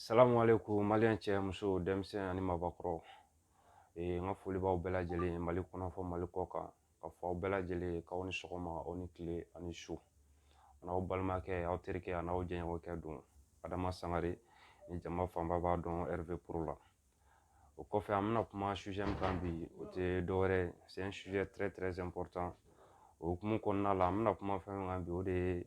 Salamu alekum malien cɛ muso denmisɛnnin ani mabakɔrɔ n ka foli b'aw bɛɛ lajɛlen ye mali kɔnɔ fɔ mali kɔ kan ka fɔ aw bɛɛ lajɛlen ye k'aw ni sɔgɔma aw ni tile ani su an'aw balimakɛ aw terikɛ an'aw jɛɲɔgɔnkɛ don adama sangare ni jama fanba b'a dɔn rv pro la o kɔfɛ an bɛna kuma sujet min kan bi o tɛ dɔwɛrɛ c'est un sujet très très important o hukumu kɔnɔna la an bɛna kuma fɛn min kan bi o de ye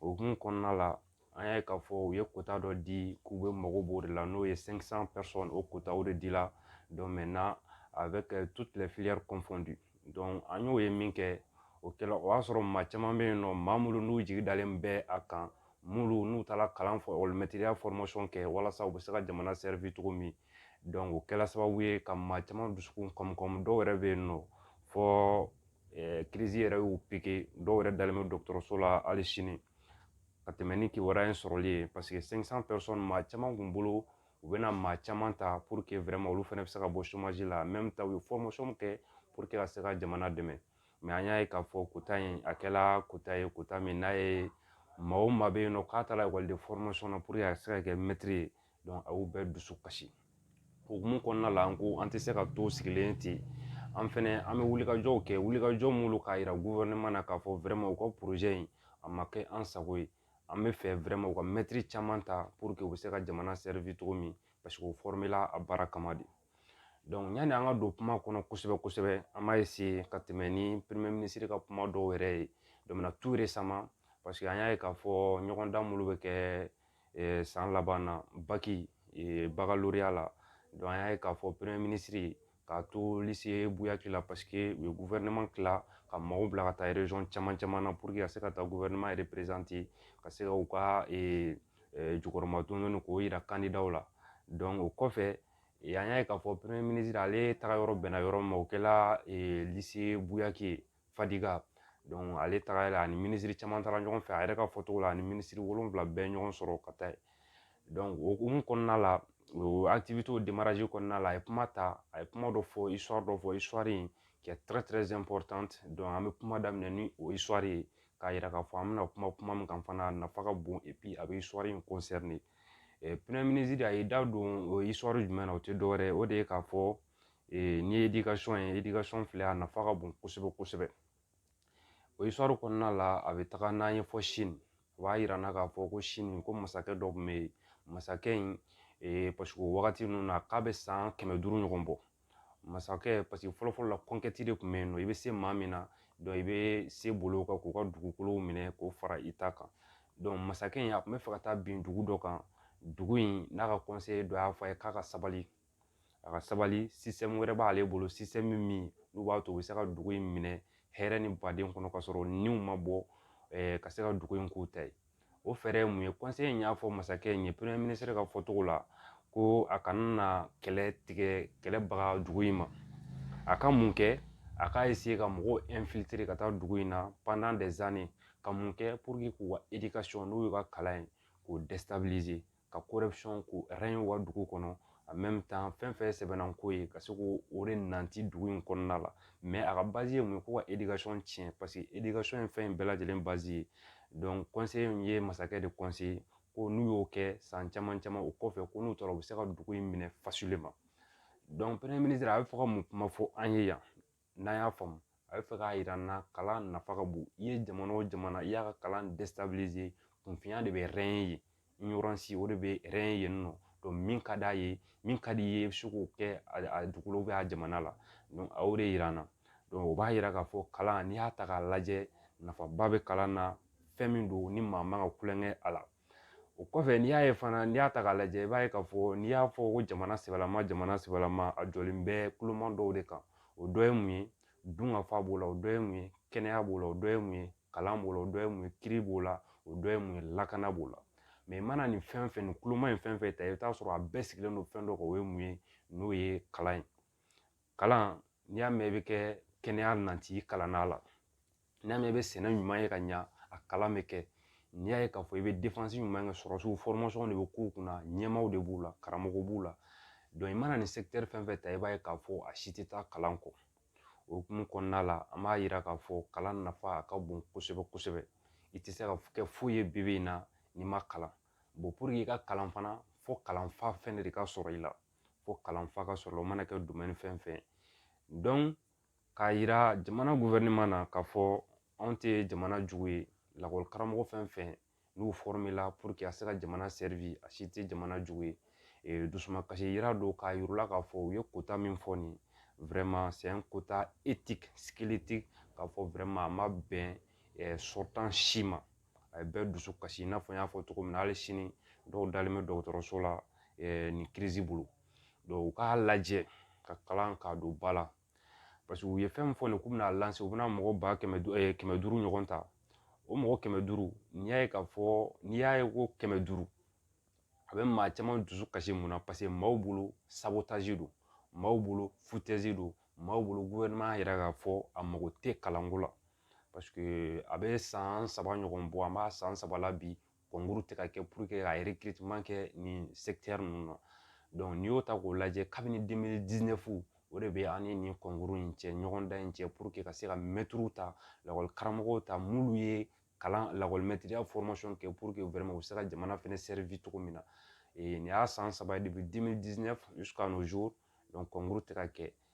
o hukumu kɔnɔna la an y'a ye k'a fɔ u ye quota dɔ di k'u bɛ mago b'o de la n'o ye 500 personnes o quota o de di la donc maintenant avec euh, toutes les filières confondues donc an y'o ye min kɛ o kɛla o y'a sɔrɔ maa caman bɛ yen nɔ maa minnu n'u jigi dalen bɛ a kan minnu n'u taara kalan fɔ olu mɛtiriya formation kɛ walasa u bɛ se ka jamana servir cogo min donc o kɛla sababu ye ka maa caman dusukun kɔmi dɔw yɛrɛ bɛ yen nɔ fɔ kirizi yɛrɛ y'u pike dɔw yɛrɛ dalen bɛ dɔgɔtɔrɔso la hali sini ka tɛmɛ ni kibaruya in sɔrɔli ye paseke maa caman kun bolo u bɛna maa caman ta olu fana bɛ se ka bɔ la u ye kɛ ka se ka jamana dɛmɛ an y'a ye k'a fɔ kota in a kɛla kota ye kota min n'a ye maa o maa bɛ yen nɔ k'a taara ekɔliden na a ka se ka kɛ mɛtiri ye a y'u bɛɛ dusu kasi o hukumu kɔnɔna la an ko an tɛ se ka to sigilen ten an fɛnɛ an bɛ wulikajɔw kɛ wulikajɔ mun don k'a yira gouvernement na k'a fɔ vraiment u ka projet in a ma kɛ an sago ye an b'a fɛ vraiment u ka mɛtiri caman ta pour que u bɛ se ka jamana servir cogo min parce que u formera a baara kama de donc yanni an ka don kuma kɔnɔ kosɛbɛ kosɛbɛ an b'a essayer ka tɛmɛ ni premier ministre ka kuma dɔw yɛrɛ ye donc tout récemment parce que an y'a ye k'a fɔ ɲɔgɔndan minnu bɛ kɛ Ɛɛ san laban na bac baccalauréat la donc an y'a ye k'a fɔ premier ministre k'a to lycée Bouillagui la parce que u ye gouvernement tila ka maaw bila ka taa région caman caman na pour que ka se ka taa gouvernement représenter ka se k'u ka jukɔrɔmadon k'o jira candidat la donc o kɔfɛ an y'a ye k'a fɔ premier ministre ale taga yɔrɔ bɛnna yɔrɔ min ma o kɛla lycée Bouillagui ye fadiga ale tagara la ani minisiri caman taara ɲɔgɔn fɛ a yɛrɛ ka fɔ cogo la ani minisiri wolonwula bɛɛ ye ɲɔgɔn sɔrɔ ka taa o hokumu kɔnɔna la o kɔnɔna la a ye kuma ta a ye kuma dɔ fɔ dɔ fɔ in kɛ an bɛ kuma daminɛ ni o ye k'a yira k'a fɔ an bɛna kuma kuma min kan fana a nafa ka bon a bɛ in de a ye da don o jumɛn na o tɛ dɔwɛrɛ ye o de ye k'a fɔ n'i ye éducation éducation filɛ a nafa ka bon kosɛbɛ kosɛbɛ o histoire kɔnɔna la a bɛ taga n'an ye fɔ sini o b'a yira an na k'a fɔ ko sini ko masakɛ dɔ tun bɛ yen masakɛ in parce que o wagati ninnu na k'a bɛ san kɛmɛ duuru ɲɔgɔn bɔ masakɛ parce que fɔlɔ fɔlɔ la conquête de tun bɛ yen nɔ i bɛ se maa min na donc i bɛ se bolo kan k'u ka dugukolow minɛ k'o fara i ta kan donc masakɛ in a tun bɛ fɛ ka taa bin dugu dɔ kan dugu in n'a ka conseiller dɔ y'a fɔ a ye k'a ka sabali a ka sabali système wɛrɛ b'ale bolo système min n'u b'a to u bɛ se ka dugu in minɛ hɛrɛ ni baden kɔnɔ ka sɔrɔ niw ma bɔ ka se ka dugu in k'u ta ye o fɛɛrɛ ye mun ye conseiller in y'a fɔ masakɛ in ye premier ministre ka fɔcogo la ko a kana na kɛlɛ tigɛ kɛlɛ baga dugu in ma a ka mun kɛ a ka essayer ka mɔgɔw infiltrer ka taa dugu in na pendant des années ka mun kɛ pour que k'u ka éducation n'o y'u ka kalan ye k'o ka ko u ka dugu kɔnɔ a mɛn taa fɛn fɛn sɛbɛnna ko ye ka se k'o o de nati dugu in kɔnɔna la mɛ a ka bazi ye mun ye ko ka edikasɔn tiɲɛ paseke edikasɔn ye fɛn in bɛɛ lajɛlen bazi ye in ye masakɛ de kɔnse ko n'u y'o kɛ san caman caman o kɔfɛ ko n'u taara u bɛ se ka dugu in minɛ fasili ma a bɛ fɔ ka mun kuma fɔ an ye yan n'a y'a faamu a bɛ fɛ k'a yira an na kalan nafa ka bon i ye jamana o jamana i y'a ka kalan déstabiliser kunfinya de bɛ régner yen ignorance o de bɛ régner yen nɔ donc min ka d'a ye min ka di i ye i bɛ se k'o kɛ a dugu la ou bien a jamana la donc a y'o de yira an na donc o b'a yira k'a fɔ kalan n'i y'a ta k'a lajɛ nafaba bɛ kalan na fɛn min don ni maa man ka tulonkɛ a la o kɔfɛ n'i y'a ye fana n'i y'a ta k'a lajɛ i b'a ye k'a fɔ n'i y'a fɔ ko jamana sɛbɛlama jamana sɛbɛlama a jɔlen bɛ kuloma dɔw de kan o dɔ ye mun ye dunkafa b'o la o dɔ ye mun ye kɛnɛya b'o la o dɔ ye mun ye kalan b'o la o dɔ ye mun ye kiiri b'o la o dɔ ye mun ye lakana b'o la mais i mana nin fɛn fɛn nin kuloma in fɛn fɛn ta i bɛ t'a sɔrɔ a bɛɛ sigilen don fɛn dɔ kan o ye mun ye n'o ye kalan ye kalan n'i y'a mɛn i bɛ kɛ kɛnɛya nati i kalan na la n'i y'a mɛn i bɛ sɛnɛ ɲuman ye ka ɲa a kalan bɛ kɛ n'i y'a ye k'a fɔ i bɛ défense ɲuman kɛ sɔrɔsiw formation de bɛ k'u kunna ɲɛmaaw de b'u la karamɔgɔ b'u la donc i mana nin secteur fɛn fɛn ta i b'a ye k'a fɔ a si tɛ taa kalan kɔ o hukumu kɔnɔna la an b'a yira k'a fɔ kalan nafa a ka bon kosɛbɛ kosɛbɛ i tɛ se ka kɛ foyi ye bi in na n'i ma kalan bon pour que i ka kalan fana fo kalanfa fɛnɛ de ka sɔrɔ i la fo kalanfa ka sɔrɔ o mana kɛ domaine fɛn fɛn donc k'a yira jamana gouvernement na k'a fɔ anw tɛ jamana jugu ye lakɔli karamɔgɔ fɛn fɛn n'u formela pour que a se ka jamana servir a si tɛ jamana jugu ye ee dusumakasi yira don k'a yir'u la k'a fɔ u ye quota min fɔ nin vraiment c'est un quota étique squelettique k'a fɔ vraiment a ma bɛn sortant si ma a ye bɛɛ dusu kasi i n'a fɔ n y'a fɔ cogo min na hali sini dɔw dalen bɛ dɔgɔtɔrɔso la nin kirizi bolo u k'a lajɛ ka kalan k'a don ba la paseke u ye fɛn min fɔ nin k'u bɛna lancer u bɛna mɔgɔ ba kɛmɛ kɛmɛ duuru ɲɔgɔn ta o mɔgɔ kɛmɛ duuru n'i y'a ye k'a fɔ n'i y'a ye ko kɛmɛ duuru a bɛ maa caman dusu kasi mun na paseke maaw bolo sabotaji don maaw bolo futɛzi don maaw bolo gouvernement yɛrɛ k'a fɔ a mago tɛ kalanko la paseke a bɛ san saba ɲɔgɔn bɔ an b'a san saba la bi kɔnkuru tɛ ka kɛ puruke ka recrutement kɛ nin sɛkitɛri ninnu na n'i y'o ta k'o lajɛ kabini deux mille dix-neuf o de bɛ an ni nin kɔnkuru in cɛ ɲɔgɔndan in cɛ puruke ka se ka mɛtiriw ta lakɔli karamɔgɔw ta minnu ye kalan lakɔlimɛtiriya fɔrɔmasɔn kɛ puruke vraiment u bɛ se ka jamana fɛnɛ servi cogo min na nin y'a san saba ye depuis deux mille dix-neuf jusqu'à nos jours kɔnkuru tɛ ka kɛ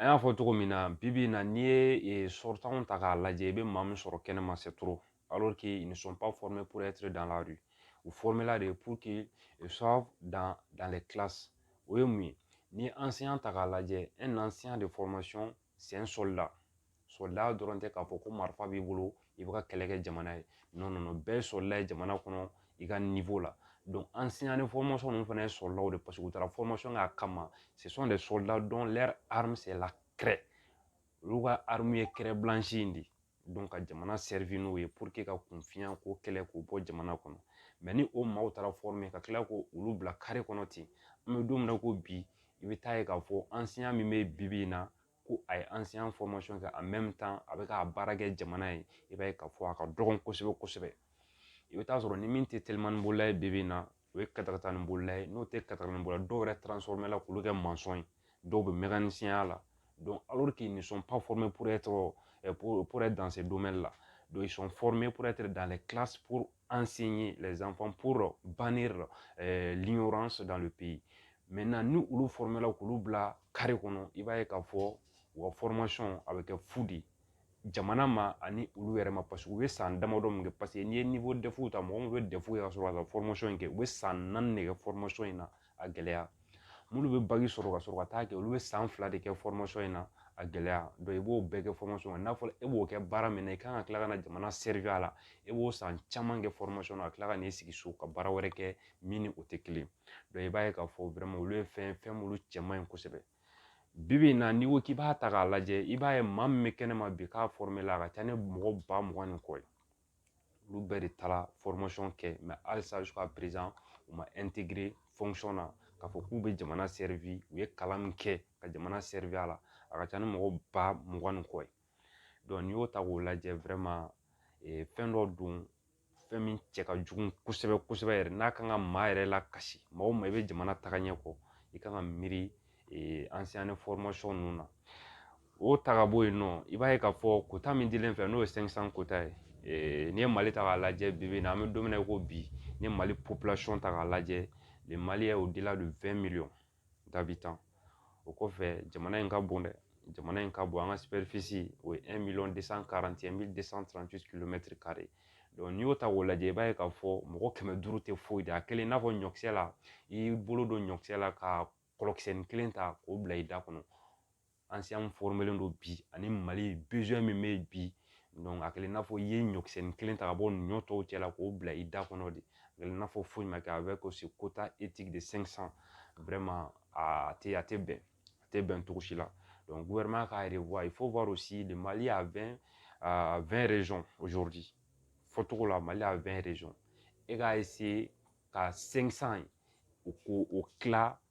an y'a fɔ cogo min na bi bi in na n'i ye eh, sortantw ta k'a lajɛ i bɛ maa min sɔrɔ kɛnɛma c'est trop alors qu'ils ne sont pas formés pour être dans la rue u formela de pour qu'ils soient dans, dans les classes o ye mun ye n'i ye enseignant ta k'a lajɛ un enseignant de formation c'est un soldat sɔrɔdaya dɔrɔn tɛ k'a fɔ ko marifa b'i bolo i bɛ ka kɛlɛ kɛ jamana ye bɛɛ sɔrɔla ye jamana kɔnɔ i ka la an sinna ni ninnu fana ye sɔrɔlaw de paseke u taara kɛ a kama de sɔrɔla olu ka ye kɛrɛblansi in de ye ka jamana n'o ye ka kunfinya ko kɛlɛ k'o bɔ jamana kɔnɔ mɛ ni o maaw taara ka tila ko olu bila kare kɔnɔ ten an bɛ don min na ko bi i bɛ taa ye k'a fɔ an siya min bɛ bi in na ko a ye an se an kɛ a bɛ ka baara kɛ jamana ye i b'a ye k'a fɔ a ka dɔgɔn kosɛbɛ kosɛbɛ i bɛ taa sɔrɔ ni min tɛ teliman bolola ye bi in na o ye katakata ni bolola ye n'o tɛ kata ni bolola dɔw yɛrɛ transforomɛ la k'olu kɛ mansɔn ye dɔw bɛ mɛgɛnsinya la nisɔn pa fɔme poroyɛ tɔgɔ danse donmɛ la sɔn fɔme porote dan ale kilasi ansin ye lɛnɛnsan banni liyɔrɔ sɔrɔ dan bɛ yen ni olu formela k'olu bila kare kɔnɔ i b'a ye k'a fɔ u ka formation a bɛ kɛ fu de ye jamana ma ani olu yɛrɛ ma paseke u bɛ san damadɔ min kɛ paseke n'i ye niveau DEF ta mɔgɔ min bɛ DEF kɛ ka sɔrɔ ka formation in kɛ u bɛ san naani de kɛ formation in na a gɛlɛya minnu bɛ bac sɔrɔ ka sɔrɔ ka taa kɛ olu bɛ san fila de kɛ formation in na a gɛlɛya i b'o bɛɛ kɛ formation kɔnɔ n'a fɔra e b'o kɛ baara min na i kan ka tila ka na jamana servi a la e b'o san caman kɛ formation na ka tila ka n'i sigi so ka baara wɛrɛ kɛ min ni o tɛ kelen ye donc i b'a ye k'a fɔ vraiment olu ye fɛn fɛn minnu cɛ man ɲi kosɛbɛ bi bi in na n'i ko k'i b'a ta k'a lajɛ i b'a ye maa min bɛ kɛnɛ ma bi k'a formé la a ka ca ni mɔgɔ ba mugan ni kɔ ye olu bɛɛ de taara formation kɛ mais halisa jusqu'à présent u ma intégré fonction na k'a fɔ k'u bɛ jamana servi u ye kalan min kɛ ka jamana servi a la a ka ca ni mɔgɔ ba mugan ni kɔ ye donc n'i y'o ta k'o lajɛ vraiment fɛn dɔ don fɛn min cɛ ka jugu kosɛbɛ kosɛbɛ yɛrɛ n'a kan ka maa yɛrɛ lakasi maa o maa i bɛ jamana tagaɲɛ kɔ i kan ka miiri enseignant de formation ninnu na o ta ka bɔ yen nɔ i b'a ye k'a fɔ quota min dilen fɛ n'o ye cinq cents quota ye n'i ye mali ta k'a lajɛ bi bi in na an bɛ don min na i ko bi n'i ye mali population ta k'a lajɛ le Mali est au-delà de vingt millions da bi tan o kɔfɛ jamana in ka bon dɛ jamana in ka bon an ka o ye n'i y'o ta k'o lajɛ i b'a ye k'a fɔ mɔgɔ kɛmɛ duuru tɛ foyi da kelen i n'a fɔ ɲɔkisɛ la i y'i bolo don ɲɔkisɛ la ka kɔlɔkisɛnin kelen ta k'o bila i da kɔnɔ an se an forolen don bi ani mali bezɔn min bɛ bi dɔnku a kɛlen n'a fɔ i ye ɲɔkisɛni kelen ta ka bɔ ɲɔ tɔw cɛ la k'o bila i da kɔnɔ de a kɛlen n'a fɔ foyi ma kɛ a bɛ ko se kota etigi de san san wɛrɛma a tɛ a tɛ bɛn a tɛ bɛn cogo si la dɔnku guwɛrɛma k'a yɛrɛ wa i fo b'a si de mali y'a bɛn vɛn rezɔn ozodi fɔcogo la mali y'a vɛn rezɔn e k'a se ka san san u ko o tila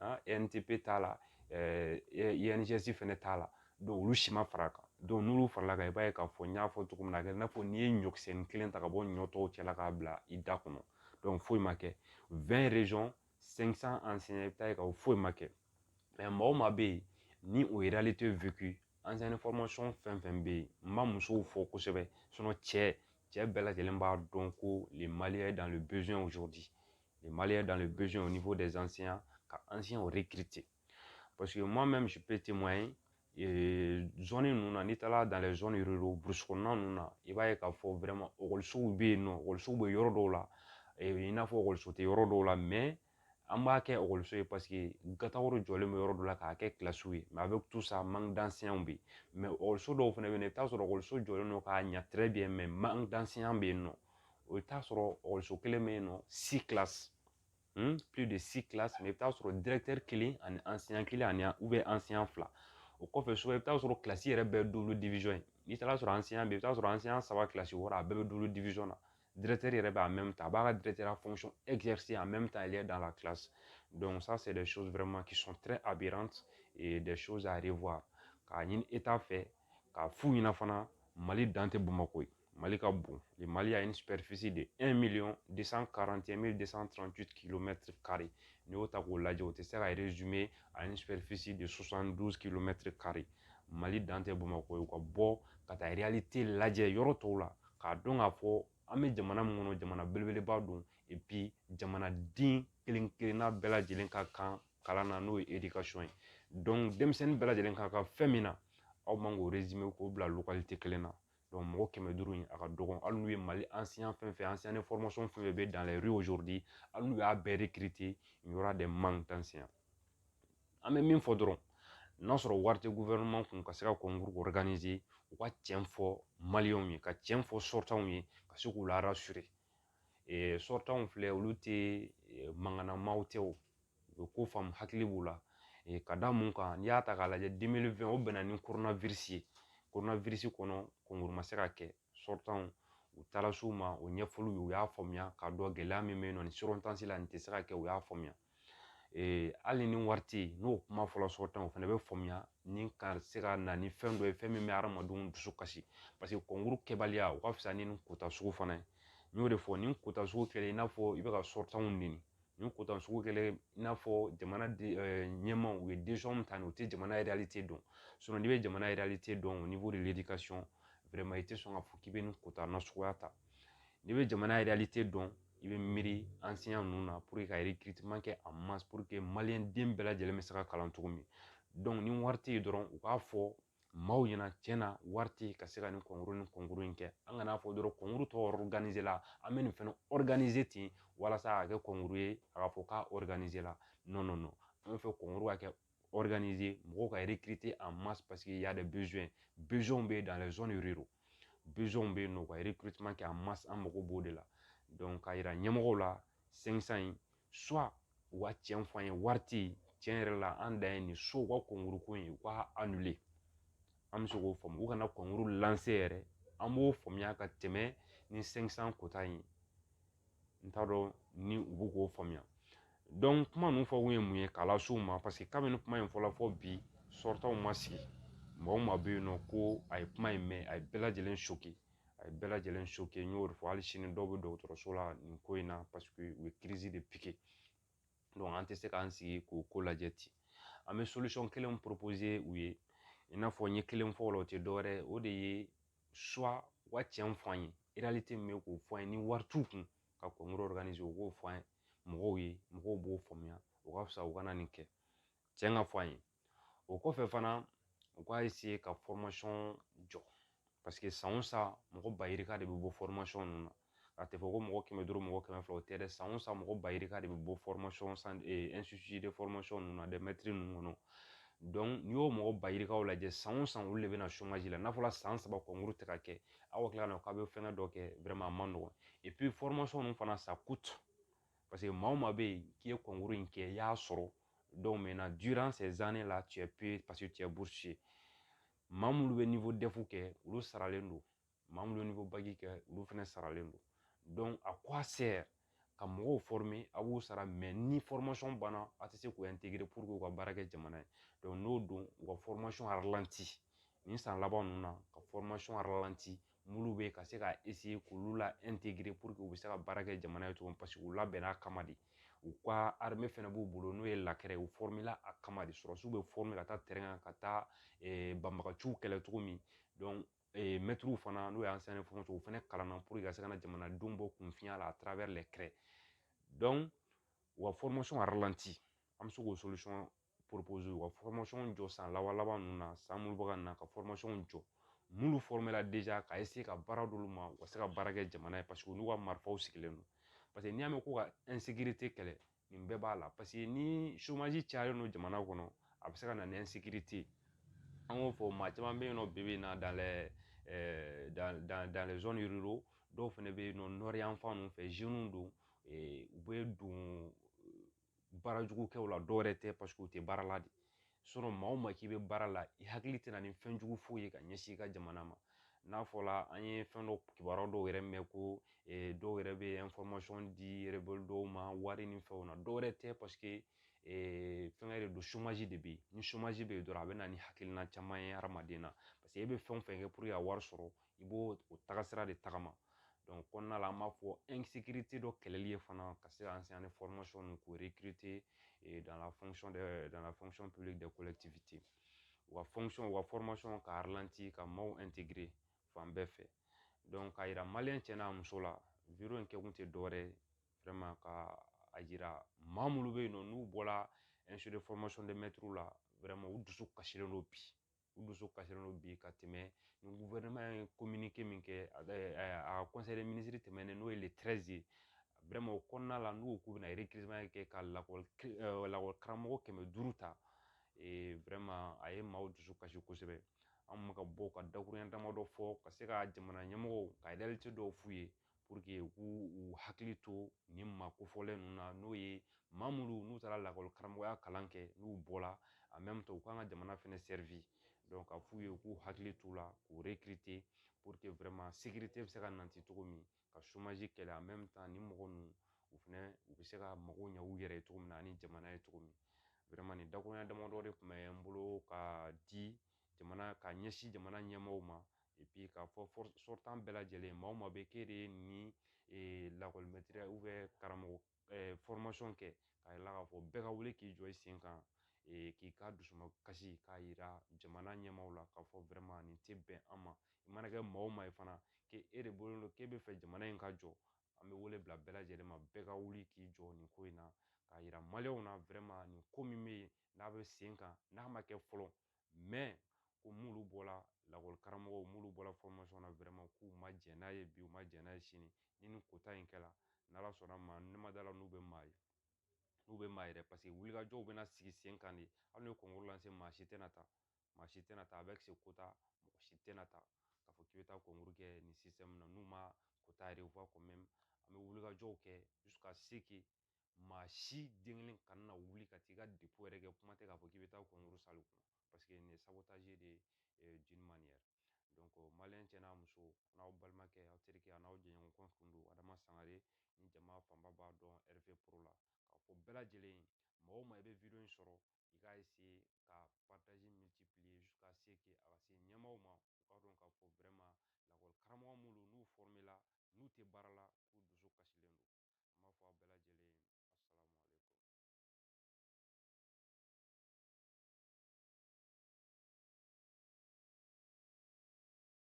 an ENETP t'a la INJS fɛnɛ t'a la donc olu si ma far'a kan n'olu farala kan i b'a ye k'a fɔ n y'a fɔ cogo min na a kɛ i n'a fɔ n'i ye ɲɔkisɛnin kelen ta ka bɔ ɲɔ tɔw cɛla k'a bila i da kɔnɔ donc foyi ma kɛ vingt régions cinq cents enseignants i bɛ taa ye k'a fɔ foyi ma kɛ maa o maa bɛ yen ni o ye réalité vécue enseignant de formation fɛn fɛn bɛ yen n ma musow fɔ kosɛbɛ cɛ cɛ bɛɛ lajɛlen b'a dɔn ko nin Le Mali est dans le besoin au niveau des enseignants, ka enseignants recruter. Parce que moi-même, je peux témoigner, et zone ninnu na n'i taara dans les zones ruraux burusi kɔnɔna ninnu na i b'a ye k'a fɔ vraiment ekɔlisow bɛ yen nɔ ekɔlisow bɛ yɔrɔ dɔw la i n'a fɔ ekɔliso tɛ yɔrɔ dɔw la mais an b'a kɛ ekɔliso ye parce que gataw jɔlen bɛ yɔrɔ dɔ la k'a kɛ kilasiw ye mais avec tout ça manque d'enseignants bɛ yen mais ekɔliso dɔw fana bɛ yen i bɛ t'a sɔrɔ ekɔliso jɔlen don k'a ɲɛ très bien mais manque d'enseignants bɛ yen nɔ o bɛ taa sɔrɔ ekɔliso kelen bɛ yen nɔ si tila de si tila i bɛ taa sɔrɔ kelen ani an siɲɛ kelen ani an siɲɛ fila o kɔfɛ so i bɛ taa sɔrɔ kilasi yɛrɛ bɛɛ dulu ye n'i taara sɔrɔ an siɲɛ bɛ i bɛ t'a sɔrɔ an siɲɛ saba kilasi wɔɔrɔ a bɛɛ bɛ dulu na yɛrɛ b'a mɛn ta a b'a ka dɛrɛtɛrɛ fɔsɔn ɛkisi a mɛn ta ale dan la kilasi sa sɛ dɛ so wɛrɛma kisɔn tɛ a bɛ dɛ so k'a ɲini e t'a fɛ k'a fu ɲɛna fana mali dan tɛ bamakɔ ye Mali ka bon le Mali a une superficie de 1 million 241 238 kilomètres carrés n'i y'o ta k'o lajɛ o tɛ se ka résumer à une superficie de 72 kilomètres carrés Mali dan tɛ Bamakɔ ye u ka bɔ ka taa réalité lajɛ yɔrɔ tɔw la k'a dɔn k'a fɔ an bɛ jamana min kɔnɔ jamana belebeleba don et puis jamanaden kelen kelenna bɛɛ lajɛlen ka kan kalan na n'o ye éducation ye donc denmisɛnnin bɛɛ lajɛlen ka kan fɛn min na aw man k'o résumer k'o bila localité kelen na mɔgɔ kɛmɛ duuru in a ka dɔgɔn hali n'u ye mali an si an fɛn fɛn an si an fɛn fɛn bɛ dan hali n'u y'a bɛɛ de nin yɔrɔ de man tan siɲɛ an bɛ min fɔ dɔrɔn n'a sɔrɔ wari tɛ kun ka se ka kɔnkuru u ka cɛn fɔ ye ka cɛn fɔ sɔrɔtaw ye ka se k'u la sɔrɔtaw filɛ olu tɛ mankanna maaw tɛ o u bɛ ko faamu hakili b'u la ka da mun kan n'i y'a ta k'a lajɛ 2020 o bɛnna ni coronavirus ye coronavirus kɔnɔ kɔnkuru ma se ka kɛ sortants u taara s'u ma o ɲɛfɔl'u ye u y'a faamuya k'a dɔn gɛlɛya min bɛ yen nɔ ni circonstance la nin tɛ se ka kɛ u y'a faamuya hali ni wari tɛ yen n'o kuma fɔra sortants fana bɛ faamuya ni ka se ka na ni fɛn dɔ ye fɛn min bɛ hadamadenw dusu kasi paseke kɔnkuru kɛbaliya o ka fisa ni nin kota sugu fana ye n y'o de fɔ nin kota sugu kɛlen i n'a fɔ i bɛ ka sortants nɛni nin kota sugu kɛlen i n'a fɔ jamana ɲɛmaaw u ye min ta nin u tɛ jamana yɛrɛlite dɔn n'i bɛ jamana yɛrɛlite dɔn o n'i b'o de ka sɔn i tɛ sɔn ka fɔ k'i bɛ nin kota nasuguya ta n'i bɛ jamana yɛrɛlite dɔn i bɛ miiri an siya ninnu na ka yiriman kɛ a ma den bɛɛ lajɛlen bɛ se ka kalan cogo min ni wari tɛ yen dɔrɔn u k'a fɔ maaw ɲɛna cɛn na wari tɛ ka se ka nin kɔnkuru ni kɔnkuru in kɛ an kana fɔ dɔrɔn kɔnkuru tɔ la an bɛ nin fɛnɛ ten walasa a ka kɛ kɔnkuru ye a ka fɔ k'a la an fɛ kɔnkuru ka kɛ mɔgɔw ka a ma paseke y'a de bɛ yen bɛ yen bɛ yen nɔ ka kɛ a ma an mago b'o de la k'a yira ɲɛmɔgɔw la in soit u ka tiɲɛ fɔ an ye wari tɛ yen tiɲɛ yɛrɛ la an dan ye nin so u ka kɔnkuru ko in u ka annuler an bɛ se k'o faamu u kana kɔnkuru lancer yɛrɛ an b'o faamuya ka tɛmɛ ni 500 kota in ye n t'a dɔn ni u bɛ k'o faamuya donc kuma ninnu fɔ kun ye mun ye k'a las'u ma paseke kabini kuma in fɔla fo bi sortants ma sigi mɔgɔ min ma bɛ yen nɔ ko a ye kuma in mɛn a ye bɛɛ lajɛlen a ye bɛɛ lajɛlen choqué n y'o de fɔ hali sini dɔw bɛ dɔgɔtɔrɔso la nin ko in na paseke u ye crise de piqué an tɛ se k'an sigi k'o ko lajɛ ten an bɛ solution kelen proposer u ye i n'a fɔ n ye kelen fɔ o la o tɛ dɔwɛrɛ ye o de ye soit u ka cɛn fɔ an ye réalité min bɛ k'o fɔ an ye ni wari t'u kun ka kɔnkuru organiser u k'o fɔ an ye mɔgɔw ye mɔgɔw b'o faamuya o ka fisa u kana nin kɛ cɛn ka fɔ an ye o kɔfɛ fana u k'a ka jɔ paseke san o san mɔgɔ ba yirika de bɛ bɔ ninnu na a tɛ fɔ ko mɔgɔ kɛmɛ duuru mɔgɔ kɛmɛ fila o tɛ dɛ san o san mɔgɔ ba yirika de bɛ bɔ ninnu na dɛ mɛtiri ninnu kɔnɔ n'i y'o mɔgɔ ba yirikaw lajɛ san o san olu de bɛ na la n'a fɔra san saba kɔnkuru tɛ ka kɛ aw ka tila ka na k'a bɛ fɛngɛ dɔ kɛ a man nɔgɔn ninnu fana sa Parce que maa o maa bɛ yen k'i ye concours in kɛ i y'a sɔrɔ donc maintenant durant ces années là tu es payé parce que tu es boursier maa minnu bɛ niveau DEF kɛ olu saralen don maa minnu bɛ niveau bac kɛ olu fana saralen don donc à quoi sert ka mɔgɔw former a b'u sara mais ni formation banna a tɛ se k'u intégrer pour que u ka baara kɛ jamana ye donc n'o don u ka formation ralenti nin san laban ninnu na ka formation ralenti mulu bɛ ka se ka k'olu la u bɛ se ka baara kɛ jamana ye cogo min paseke u labɛnna a kama de u ka fɛnɛ b'u bolo n'o ye ye u a kama de sɔrɔsiw bɛ ka taa kan ka taa banbagaciw kɛlɛ cogo min mɛtiriw fana n'o y'an o fana kalan na ka se ka na jamanadenw bɔ kunfinya la a u ka an bɛ se k'o proposer u ka formation jɔ san laban laban ninnu na san minnu bɛ ka na ka formationw jɔ minnu formela déjà ka essayer ka baara d'olu ma u ka se ka baara kɛ jamana ye parce que olu ka marifaw sigilen don parce que n'i y'a mɛn ko ka insécurité kɛlɛ nin bɛɛ b'a la parce que ni chômage cayalen don jamana kɔnɔ a bɛ se ka na ni insécurité ye an k'o fɔ maa caman bɛ yen nɔ bi bi in na dans les euh, dans, dans, dans les zones ruraux dɔw fana bɛ yen nɔ nord yan fan ninnu fɛ jeunes don u bɛ don baara jugu kɛw la dɔwɛrɛ tɛ parce que u tɛ baara la de sinon maa o maa k'i bɛ baara la i hakili tɛna ni fɛn jugu foyi ye ka ɲɛsin i ka jamana ma n'a fɔla an ye fɛn dɔ kibaruya dɔw yɛrɛ mɛn ko dɔw yɛrɛ bɛ information di rebelle dɔw ma wari ni fɛnw na dɔwɛrɛ tɛ parce que fɛngɛ de don chômage de bɛ yen ni chômage bɛ yen dɔrɔn a bɛ na ni hakilina caman ye hadamaden na parce que e bɛ fɛn o fɛn kɛ pour que ka wari sɔrɔ i b'o o tagasira de tagama donc kɔnɔna la an b'a fɔ insécurité dɔ kɛlɛli ye fana ka se ka enseignant formation ninnu k'o recruter eh, dans la fonction de dans la fonction publique des collectivités u ka fonction u ka formation ka ralentir ka maaw intégrer fan bɛɛ fɛ donc k'a yira maliyɛn cɛ n'a muso la video in kɛkun tɛ dɔwɛrɛ ye vraiment ka a yira maa minnu bɛ yen nɔ n'u bɔra institut de formation de maître la vraiment u dusu kasilen don bi u dusu kasilen don bi ka tɛmɛ ni gouvernement ye communiqué min kɛ a ka conseil des ministres tɛmɛnen n'o ye le treize ye vraiment o kɔnɔna la n'u k'u bɛna recrutement kɛ ka lakɔli lakɔli karamɔgɔ kɛmɛ duuru ta vraiment a ye maaw dusu kasi kosɛbɛ an bɛ ka bɔ ka dakuruɲɛ damadɔ fɔ ka se ka jamana ɲɛmɔgɔw ka réalité dɔw f'u ye pour que u k'u hakili to nin maa kofɔlen ninnu na n'o ye maa minnu n'u taara lakɔli karamɔgɔya kalan kɛ n'u bɔra en même temps u k'an ka jamana fɛnɛ servir donc ka f'u ye u k'u hakili t'u la k'u recruter pour que vraiment sécurité bɛ se ka nati cogo min ka chômage kɛlɛ en même temps nin mɔgɔ ninnu u fɛnɛ u bɛ se ka mago ɲɛ u yɛrɛ ye cogo min na ani jamana ye cogo min vraiment nin dakuruɲɛ damadɔ de tun bɛ n bolo ka di jamana ka ɲɛsin jamana ɲɛmaaw ma et puis k'a fɔ sortant bɛɛ lajɛlen maa o maa bɛ k'e de ye nin lakɔlimɛtiriya ou bien karamɔgɔ formation kɛ k'a yira k'a fɔ bɛɛ ka wuli k'i jɔ i sen kan k'i ka dusumakasi k'a yira jamana ɲɛmaaw la k'a fɔ vraiment nin tɛ bɛn an ma i mana kɛ maa o maa ye fana k'e de bolo don k'e b'a fɛ jamana in ka jɔ an bɛ wele bila bɛɛ lajɛlen ma bɛɛ ka wuli k'i jɔ nin ko in na k'a yira maliyɛnw na vraiment nin ko min bɛ yen n'a bɛ sen kan n'a ma kɛ fɔlɔ mais ko mulu bɔra lakɔli karamɔgɔw mulu bɔra formation na vraiment k'u ma jɛn n'a ye bi u ma jɛn n'a ye sini ni nin quota in kɛla n'ala sɔnn'a ma ne ma d'a la n'u bɛ maa ye n'u bɛ maa yɛrɛ parce que wulikajɔw bɛna sigi sen kan de hali n'u ye concours lancer maa si tɛna taa maa si tɛna taa avec ce quota mɔgɔ si tɛna taa k'a fɔ k'i bɛ taa concours kɛ nin système na n'u ma quota revoir quand même an bɛ wulikajɔw kɛ jusqu'à ce que maa si den kelen kana na wuli ka t'i ka dépôt yɛrɛ kɛ kuma tɛ k'a fɔ k'i bɛ taa concours salle kɔnɔ parce que nin ye sabotage de ye d'une manière maliyɛn cɛ n'a muso n'aw balimakɛ aw terikɛ an'aw jɛɲɔgɔn tun don adama sangare ni jama fanba b'a dɔn RV pro la k'a fɔ bɛɛ lajɛlen ye maa o maa i bɛ vidéo in sɔrɔ i k'a essayer ka partager multiplier jusqu'à ce que a ka se ɲɛmaaw ma u k'a dɔn k'a fɔ vraiment lakɔli karamɔgɔ minnu n'u formé la n'u tɛ baara la k'u dusu kasilen don an b'a fɔ aw bɛɛ lajɛlen ye asalamu aleyikum